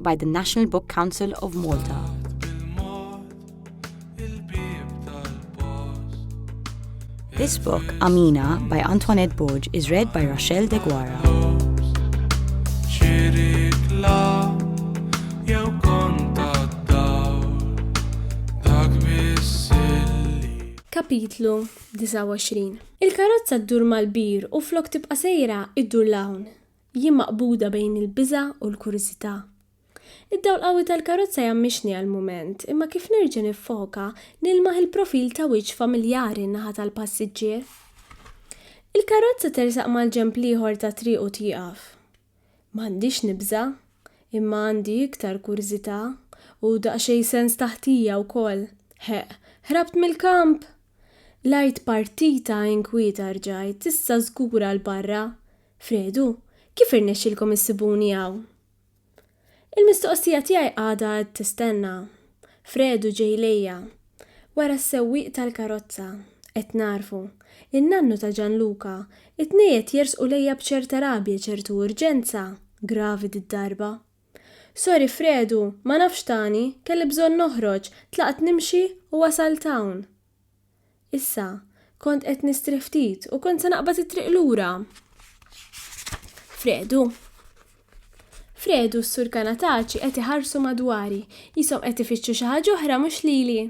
by the National Book Council of Malta. This book, Amina, by Antoinette Borg, is read by Rochelle De Guara. Kapitlu 29 Il-karozza ddur mal-bir u flok tibqa' sejra iddur l-hawn. Jien maqbuda bejn il-biża' u l-kurżità. Id-dawl qawwi tal-karozza jgħammixni għal mument, imma kif nerġa' niffoka, nilmaħ il-profil ta' wiċċ familjari n-naħa tal-passiġġier. Il-karozza tersaq mal-ġenb l-ieħor tat-triq u tieqaf. M'għandix nibża', imma għandi iktar kurżità u daqsxejn sens ta' ħtija wkoll. Ħeqq! Ħrabt mill-kamp! L-art partita inkwieta rġajt, issa żgura 'l barra. Fredu, Kif irnexxielkom issibuni hawn? Il-mistoqsija tiegħi għadha qed tistenna. Fredu ġej lejja. Wara s-sewwieq tal-karozza. Qed nagħrfu. In-nannu ta' Ġanluka. It-tnej qed jersqu lejja b'ċerta rabja, ċertu urġenza. Gravi did-darba. Sorry Fredu, ma nafx tani, kelli bżonn noħroġ, tlaqt nimxi u wasalt hawn. Issa, kont qed nistrieħ ftit u kont se naqbad it-triq lura. Fredu. Fredu s-sur Kanataċi qed iħarsu madwari, jisom qed ifittxu xi ħaġa oħra mhux lili.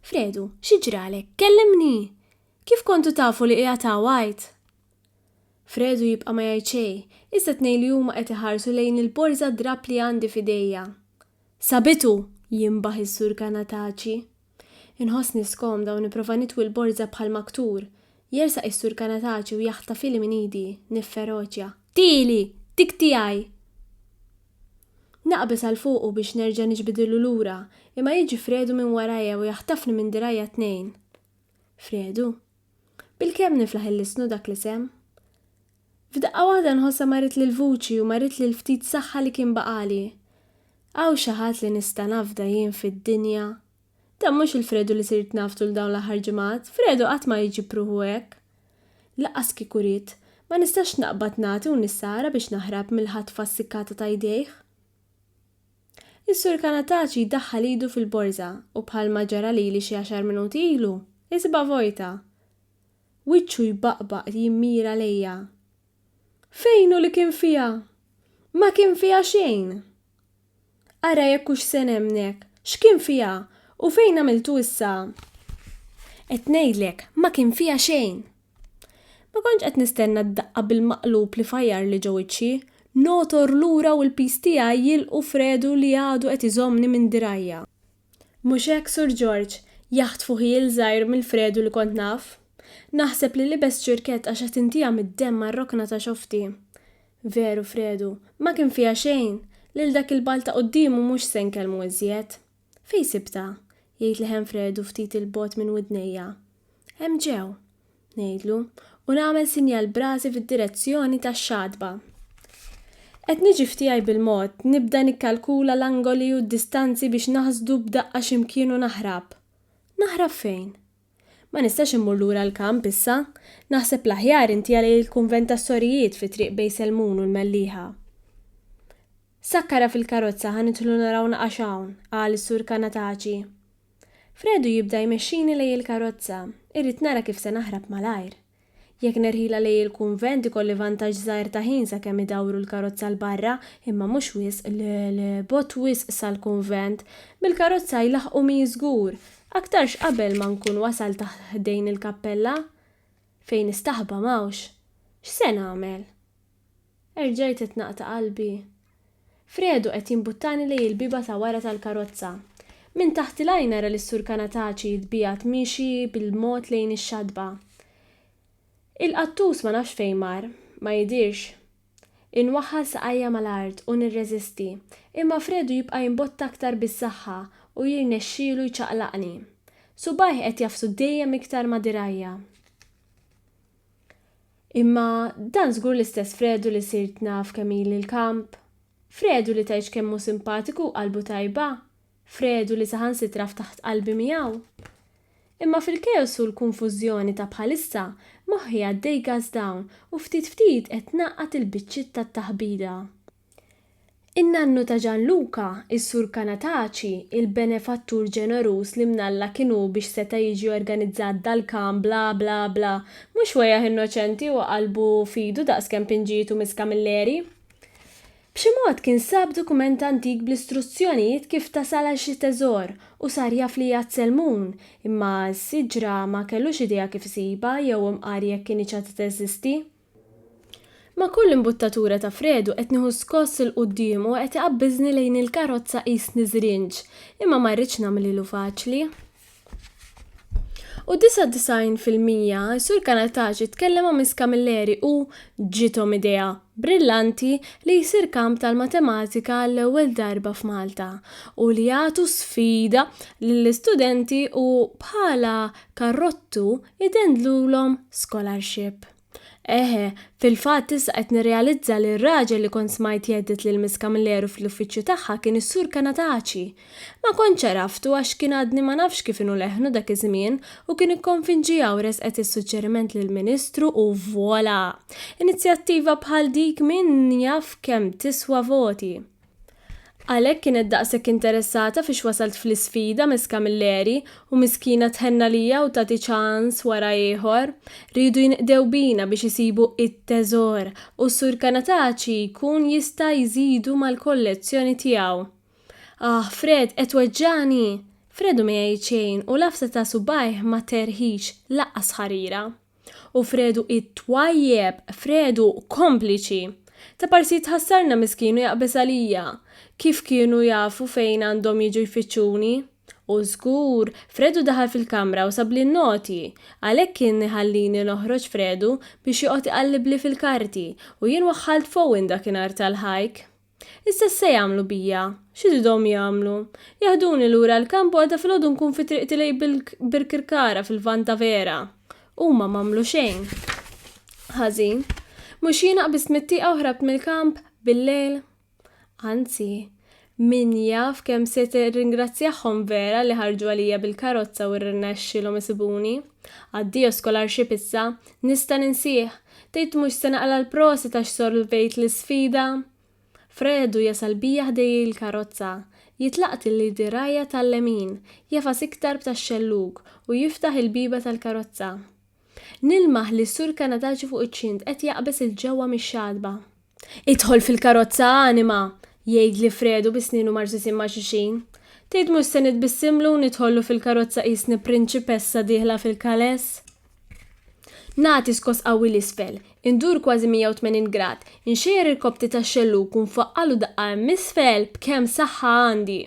Fredu, xi ġralek? Kellimni! Kif kontu tafu li qiegħed hawn għid? Fredu jibqa' ma jgħid xejn, iżda t-tnejn li huma qed iħarsu lejn il-borża drapp li għandi f'idejja. Sabitu! jinbaħ is-Sur Kanataci. Inħossni skomda u nipprova nitwi l-borża bħal maktur. Jersaq is-Sur Kanataci u jaħtafili minn idi, nifferoċja. Tieli! Dik tiegħi! Naqbeż għal fuqu biex nerġa' niġbidilu lura, imma jiġi Fredu minn warajja u jaħtafni minn dirgħajja t-tnejn. Fredu, Bilkemm niflaħ il-lisnu dak l-isem. F'daqqa waħda nħossha marret l-vuċi u marret li l-ftit saħħa li kien baqagħli. Hawn xi ħadd li nista' nafda jien fid-dinja? Dan mhux il-Fredu li sirt naf tul dawn l-aħħar ġimgħat, Fredu qatt ma jġib ruħu hekk. Lanqas kieku ried, ma nistax naqbad nagħti u nissara biex naħrab mill-ħatfa ssikkata ta' jdejh. Is-Sur Canataci jdaħħal idu fil-borża u bħalma ġara lili xi għaxar minuti ilu, isibha vojta. Wiċċu jbaqbaq jimmira lejja. Fejn hu li kien fiha? Ma kien fiha xejn! Ara jekk hux se nemmnek, x'kien fiha u fejn għamiltu issa? Qed ngħidlek, ma kien fiha xejn! Ma kontx qed nistenna d-daqqa bil-maqlub li fajjarli ġo wiċċi, nogħtor lura u l-piż tiegħi jilqu fredu li għadu qed iżommni minn dirgħajja. Mhux hekk, Sur Ġorġ? jaħtfu ħiel żgħir mill-fredu li kont naf. Naħseb li libest ċirkett għax qed intiha mid-demm għar-rokna ta' xofti. Veru, fredu, ma kien fiha xejn! Lil dak il-ball ta' quddiemu mhux se nkellmu iżjed. Fejn sibtha? jgħid leħen Fredu ftit 'il bogħod minn widnejja. Hemm ġew, ngħidlu, u nagħmel sinjal b'rasi fid-direzzjoni tax-xatba. Qed niġi f'tiegħi bil-mod, nibda nikkalkula l-angoli u d-distanzi biex naħsdu b'daqqa x'imkien u naħrab. Naħrab fejn? Ma nistax immur lura l-kamp issa. Naħseb l-aħjar inti għalej il-kunvent tas-sorijiet fi Triq Bej Selmun u l-Mellieħa. Sakkarha fil-karozza ħa nidħlu naraw naqax hawn, qal is-Sur Canataci. Fredu jibda jmexxini lej il-karozza. Irrid nara kif se naħrab malajr. Jekk nirħilha lejn il-kunvent ikolli vantaġġ żgħir ta' ħin sakemm idawru l-karozza 'l barra, imma mhux wisq 'l bogħod wisq sal-kunvent. Bil-karozza jlaħħqumi żgur, aktarx qabel ma nkun wasalt ħdejn il-kappella. Fejn nistaħba m'hawnx. X'se nagħmel? Erġajt qed naqta' qalbi. Fredu qed jimbuttani lejn il-bieba ta' wara tal-karozza. Minn taħt il-għajn nara lis-Sur Canataci jitbiegħed miexi bil-mod lejn ix-xatba. Il-qattus ma nafx fejn mar. Ma jidhirx. Inwaħħal saqajja mal-art u nirreżisti, imma Fredu jibqa' jimbotta aktar bis-saħħa u jirnexxielu jċaqlaqni. Subgħajh qed jagħfsu dejjem iktar ma' dirgħajja. Imma dan żgur l-istess Fredu li sirt naf kemm ili l-kamp. Fredu li tgħidx kemm hu simpatiku u qalbu tajba. Fredu li saħansitra ftaħt qalbi miegħu. Imma fil-keos u l-kunfużjoni ta' bħalissa, moħħi għaddej gas down u ftit ftit qed ngħaqqad il-biċċiet tat-taħbita. In-nannu ta' Gianluca, is-Sur Canataci, il-benefattur ġeneruż li minn Alla kien hu biex seta' jiġi organizzat dal-kagħam bla bla bla, mhux wegħjah innoċenti u qalbu f'idu daqs kemm pinġiet u miss Camilleri. B'xi mod kien sab dokument antik bl-istruzzjonijiet kif tasal għal xi teżor u sar jaf li hija t-Selmun, imma s-siġra ma kellux idea kif isibha jew imqar jekk kinitx għad teżisti. Ma' kull imbuttatura ta' Fredu qed nieħu skoss 'il quddiem u qed iqabbiżni lejn il-karozza qisni żrinġ, imma ma rridx nagħmlilu faċli. U 99 fil-mija, is-Sur Canataci tkellem ma' Miss Camilleri u ġiethom idea brillanti li jsir kamp tal-matematika għall-ewwel darba f'Malta u li jagħtu sfida lill-istudenti u bħala karrottu Idendlulhom scholarship. Eħe, fil-fatt issa qed nirrealizza li r-raġel li kont smajt jedded lil Miss Camilleri fl-uffiċċju tagħha kien is-Sur Canataci. Ma kontx għaraftu għax kien għadni ma nafx kif inhu leħnu dak iż-żmien u kien ikkonfinġiha u resqet is-suġġeriment lill-Ministru u voilà! Inizjattiva bħal dik min jaf kemm tiswa voti. Għalhekk kienet daqshekk interessata fiex wasalt fl-isfida Miss Camilleri u miskina tħenn għalija u tagħti ċans wara ieħor. Riedu jinqdew bina biex isibu it-teżor u s-Sur Canataci jkun jista' jżidu mal-kollezzjoni tiegħu. Aħ, Fred, qed tweġġagħni! Fredu ma jgħid xejn u l-għafsa ta' subgħajh ma terħix, lanqas ħarira. U Fredu it-twajjeb, Fredu kompliċi! Ta' parsi tħassarna miskin u jaqbeż għalija. Kif kienu jafu fejn għandhom jiġu jfittxuni? U żgur, Fredu daħal fil-kamra u sabli n-noti. Għalhekk kien iħallini noħroġ Fredu biex joqgħod iqallibli fil-karti u jien waħħalt f'Owen dakinhar tal-ħajk. Issa x'se jagħmlu bija? X'iridhom jagħmlu? Jaħduni lura l-kamp u għada filgħodu nkun fi triqti lejn Birkirkara fil-Lvant ta' vera! Huma m'għamlu xejn ħażin. Mhux jiena qbiżt mit-tieqa u ħrabt mill-kamp bil-lejl? Anzi, min jaf kemm se tirringrazzjahom vera li ħarġu għalija bil-karozza u rnexxielhom isibuni. Addio scholarship issa, nista' ninsieh! Tgħid mhux se naqla' l-prosit għax solvejt l-isfida? Fredu jasal bija ħdejji l-karozza. Jitlaqt il-lidirajja tal-lemin, jagħfas iktar b'tax-xellug u jiftaħ il-bieba tal-karozza. Nilmaħ li s-Sur Kanataċi fuq iċ-ċint qed jaqbeż 'il ġewwa mix-xatba. Idħol fil-karozza, anima! jgħidli Fredu bi snienu marsusin ma' xulxin. Tgħid mhux se nitbissimlu u nidħollu fil-karozza qisni prinċipessa dieħla fil-kales? Nagħti skoss qawwi 'l isfel, indur kważi 180 grad, inxejjer irkobti tax-xellug u nfaqqagħlu daqqa hemm isfel b'kemm saħħa għandi.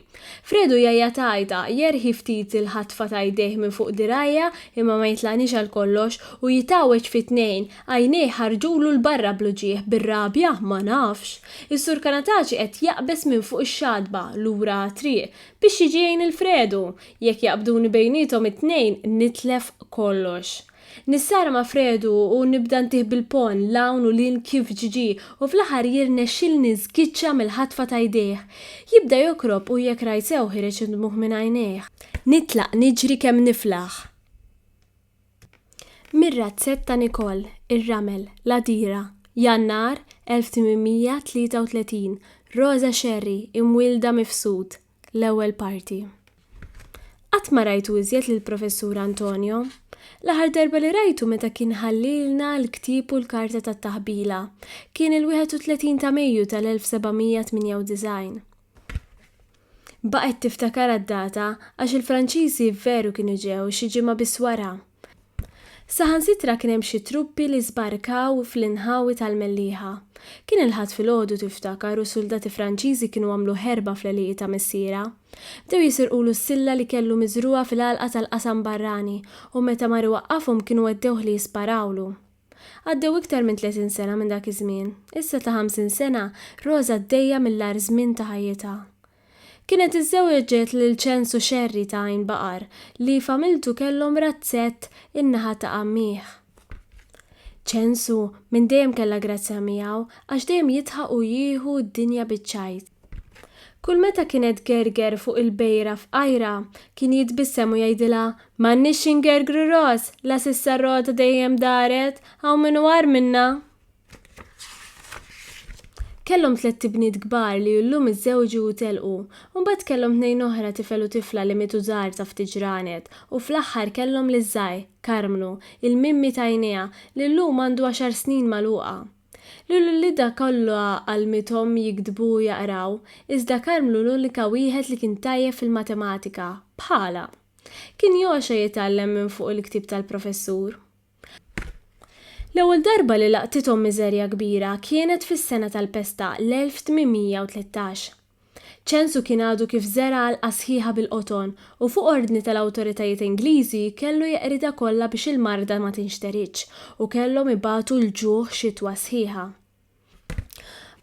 Fredu jgħajjat għajta, jerħi ftit il-ħatfa ta' jdejh minn fuq dirgħajja imma ma jitlaqnix għalkollox u jitgħawweġ fi tnejn, Għajnejh ħarġulu 'l barra bl-uġigħ, bir-rabja? Ma nafx. Is-Sur Canataci qed jaqbeż minn fuq ix-xatba, lura għat-triq, biex jiġi jgħin il-Fredu. Jekk jaqbduni bejniethom it-tnejn, nitlef kollox. Nissara ma' Fredu u nibda ntih bil-ponn 'l hawn u 'l hinn kif ġġi u fl-aħħar jirnexxilni nżgiċċa mill-ħatfa ta' jdejh. Jibda jokrob u jekk rajt sew ħireġ id-dmugħ minn għajnejh. Nitlaq niġri kemm niflaħ. Mir-razzett ta' Nicole, ir-ramel, l-għadira, Jannar 1833, Rosa Scerri, imwielda Mifsud, l-ewwel parti. Qatt ma rajtu iżjed lill-Professur Antonio. L-aħħar darba li rajtu meta kien ħallielna l-ktieb u l-karta tat-taħbila. Kien il-31 ta' Mejju tal-1798. Baqgħet tiftakar għad-data għax il-Franċiżi veru kienu ġew xi ġimgħa biss wara. Saħansitra kien hemm xi truppi li żbarkaw fl-inħawi tal-Mellieħa. Kien il-Ħadd filgħodu tiftakar u suldati Franċiżi kienu għamlu ħerba fl-għelieqi ta' missierha. Bdew jisirqulu s-silla li kellu miżrugħa fil-għalqa tal-qasam barrani u meta mar iwaqqafhom kienu weddewh li jisparawlu. Għaddew iktar minn tletin sena minn dak iż-żmien. Issa ta' ħamsin sena, Rosa għaddejja mill-agħar żmien ta' ħajjitha. Kienet iżżewġet lil Ċensu Xerri ta' Għajn Baqar li familtu kellhom razzett in-naħa ta' għammieh. Ċensu minn dejjem kellha grazzja miegħu għax dejjem jidħaq u jieħu d-dinja biċ-ċajt. Kull meta kienet gerger fuq il-bejra fqajra, kien jitbissem u jgħidilha, M'għandniex xi ngergru ros, la s'issa r-rota dejjem daret, hawn min hu agħar minna! Kellhom tlett ibniet kbar li illum iżżewġu u telqu, u mbagħad kellhom tnejn oħra tifel u tifla li mietu żgħar ta' ftit ġranet, u fl-aħħar kellhom liż-żgħir, Karmnu, il-mimmi t'għajnejha, li llum għandu għaxar snin magħluqa. Li l-uliedha kollha għallmithom jiktbu u jaqraw, iżda Karmlu l-unika wieħed li kien tajjeb fil-matematika, bħalha. Kien jogħxa jitgħallem minn fuq il-ktieb tal-professur. L-ewwel darba li laqtithom miżerja kbira kienet fis-sena tal-pesta, l-1813. Ċensu kien għadu kif żera' għalqa sħiħa bil-qoton u fuq ordni tal-awtoritajiet Ingliżi kellu jeqridha kollha biex il-marda ma tinxteridx u kellhom ibatu l-ġuħ xitwa sħiħa.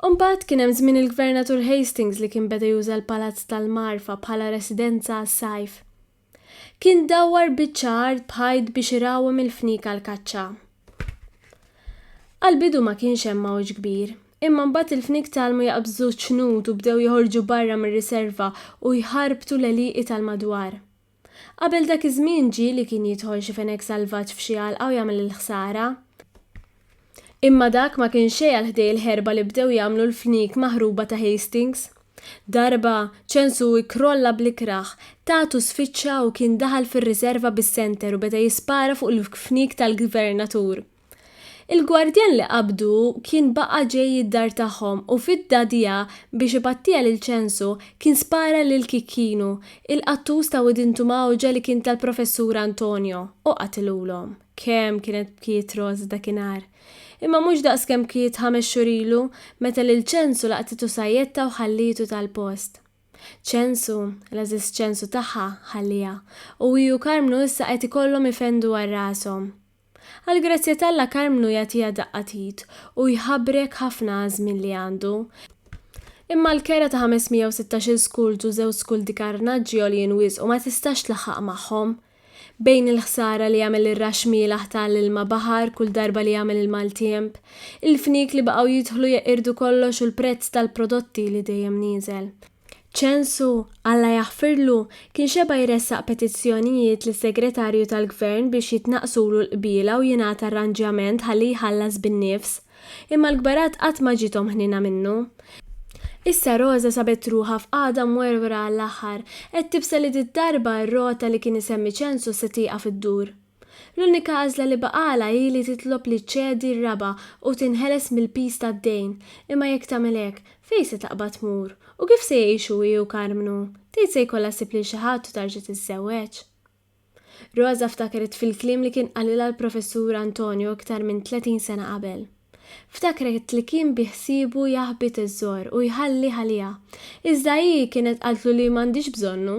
Imbagħad kien hemm żmien il-Gvernatur Hastings li kien beda juża l-Palazz tal-Magħrfa bħala residenza għas-sajf. Kien dawwar biċċa art b'ħajt biex irawwem il-fniek għall-kaċċa. Għall-bidu ma kienx hemm għawġ kbir, imma mbagħad il-fniek tgħallmu jaqbżu ċ-ċnut u bdew joħorġu barra mir-riserva u jħarbtu l-għelieqi tal-madwar. Qabel dak iż-żmien ġieli kien jidħol xi fenek salvaġġ f'xi għalqa u jagħmel il-ħsara. Imma dak ma kien xejn għal ħdej il-ħerba li bdew jagħmlu l-fniek maħruba ta' Hastings. Darba, ċensu ikkrolla bl-ikrah, tagħtu sfiċċa u kien daħal fir-riserva bis-senter u beda jispara fuq il-fniek tal-Gvernatur. Il-gwardjan li qabdu kien baqa' ġej id-dar tagħhom u fidda dija biex ipattija lil ċensu, kien spara lil Kikinu, il-qattus ta' Widin Tumawġa li kien tal-Professur Antonio, u qatilulhom. Kemm kienet bkiet Rose dakinhar. Imma mhux daqs kemm bkiet ħames xhur ilu meta lil Ċensu laqtitu sajjetta u ħallietu tal-post. Ċensu, l-għażiż Ċensu tagħha, ħalliha, u hi u Karmnu issa qed ikollhom ifendu għal rashom. Għall-grazzja t'Alla Karmnu jagħtiha daqqa t'id u jħabbrek ħafna għaż-żmien li għandu. Imma l-kera ta' 516-il skultu żewġ skuldi karnaġġi għoljin wisq u ma tistax tlaħħaq magħhom. Bejn il-ħsara li jagħmel ir-raxx mielaħ ta' l-ilma baħar kull darba li jagħmel il-maltiemp, il-fniek li baqgħu jidħlu jeqirdu kollox u l-prezz tal-prodotti li dejjem nieżel, Ċensu, Alla jaħfirlu, kien xeba' jressaq petizzjonijiet lis-Segretarju tal-Gvern biex jitnaqqsulu l-qbiela u jingħata arranġjament ħalli jħallas bin-nifs. Imma l-kbarat qatt ma ġiethom ħniena minnu. Issa Roża sabet ruħha f'qagħda mwerwra għall-aħħar, qed tibsa li did-darba r-rota li kien isemmi Ċensu se tieqaf iddur. L-unika għażla li baqgħalha hi li titlob li ċċedi r-raba' u tinħeles mill-piż tad-dejn, imma jekk tagħmel hekk, fejn se taqbad tmur? U kif se jgħixu hi u Karmnu? Tgħid se jkollha ssib lil xi ħadd u tarġa' tiżżewweġ? Rosa ftakret fil-kliem li kien qalilha l-Professur Antonio iktar minn tletin sena qabel. Ftakret li kien bi ħsiebu jaħbi teżżor u jħallih għaliha, iżda hi kienet qaltlu li m'għandhiex bżonnu.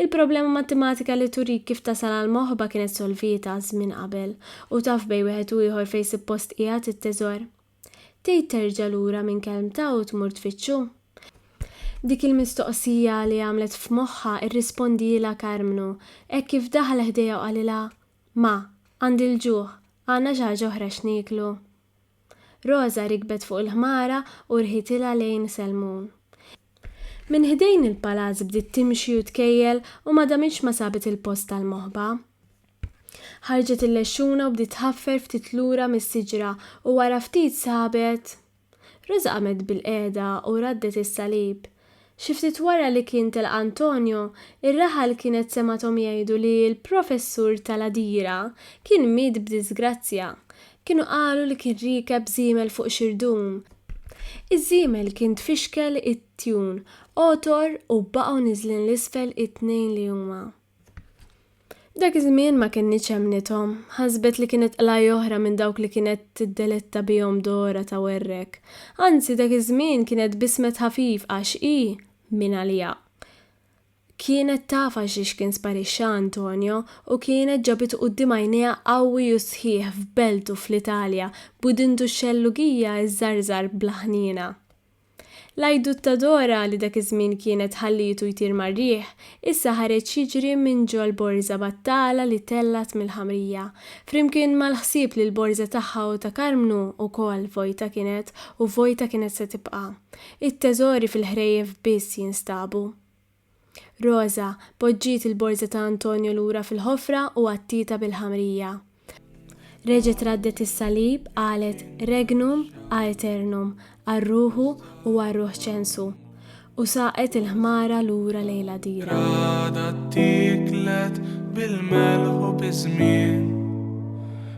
Il-problema mattimatika li turik kif tasal għall-moħba kienet solvieta żmien qabel u taf bejn wieħed u ieħor fejn suppost qiegħed it-teżor. Tgħid terġa' lura minn kelmtha u tmur tfittxu? Dik il-mistoqsija li għamlet f'moħħha irrispondielha Karmnu hekk kif daħal ħdejha u qalilha, Ma, għandi l-ġuħ, għandna xi ħaġa oħra x'nieklu? Roża rikbet fuq il-ħmara u rħitilha lejn Selmun. Minn ħdejn il-palazz bdiet timxi u tkejjel u ma damitx ma sabet il-post tal-moħba. Ħarġet il-lexxuna u bdiet tħaffer ftit lura mis-siġra u wara ftit sabet. Roża qamet bilqiegħda u raddet is-salib. Xi ftit wara li kien telaq Antonio, ir-raħal kienet semgħathom jgħidu li l-professur tal-għadira kien miet b'diżgrazzja. Kienu qalu li kien riekeb żiemel fuq xirdum. Iż-żiemel kien tfixkel it-tjun, għotor u baqgħu niżlin 'l isfel it-tnejn li huma. F'dak iż-żmien ma kinitx emmnithom. Ħasbet li kienet qlajja oħra minn dawk li kienet tiddeletta bihom Dora ta' Werrek. Anzi, dak iż-żmien kienet bismet ħafif għax hi, mingħaliha. Kienet taf għalxiex kien sparixxa Antonio u kienet ġabitu quddiem għajnejha qawwi u sħiħ f'beltu fl-Italja b'widintu x-xellugija iżżarżar bla ħniena. L-għajdut ta' Dora li dak iż-żmien kienet ħallietu jtir mar-riħ, issa ħareġ jiġri minn ġol-borża battala li tellgħet mill-ħamrija, flimkien mal-ħsieb li l-borża tagħha u ta' Karmnu wkoll vojta kienet u vojta kienet se tibqa'. It-teżori fil-ħrejjef biss jinstabu. Roża, poġġiet il-borża ta' Antonio lura fil-ħofra u għattietha bil-ħamrija. Reġgħet raddet is-salib, qalet, Regnum aeternum, għal ruħu u għal ruħ ċensu. U saqet il-ħmara lura lejn l-għadira. L-għada ttieklet bil-melħ u biż-żmien.